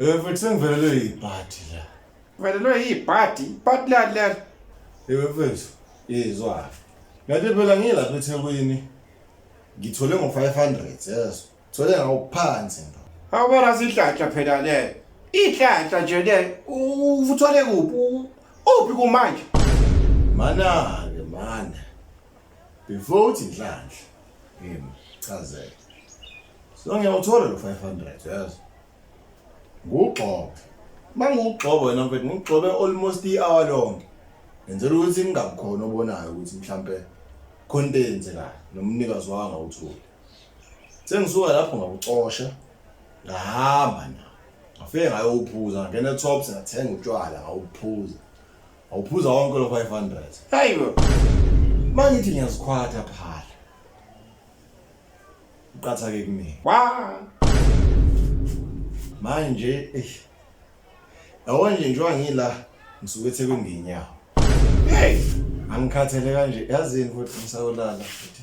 Eh futhi sengivelelwe yibhadi la. Velelwe yibhadi, ibhadi lali leli. Ewe mfethu, izwa. Ngathi phela ngilapha eThekwini. Ngithole ngo500, yes. Thole ngawuphansi ndo. Awubona sihlahla phela le. Ihlahla nje le uthole kuphi? U- Uphi kumanje? Mana ke mana. Before uthi inhlanhla. Ngimchazele. so ngiyawuthola lo 500 yes ngugxobo mangugxobo wena mfethu ngugxobe almost i-hour lonke ngenzela ukuthi ningakukhona obonayo ukuthi mhlampe khona into eyenzekayo nomnikazi waka ngawutholi sengisuka lapho ngakucosha ngahamba na ngafike ngayowuphuza ngangena etops ngathenga utshwala ngawuphuza ngawuphuza wonke lo 500 hayi bo mangithi ngiyazikhwatha phala uqathake kumina wa manje eh yabo nje njengoba ngila ngisuke ethekwini ngenyawo hey angikhathele kanje yazini futhi ngisawulala futhi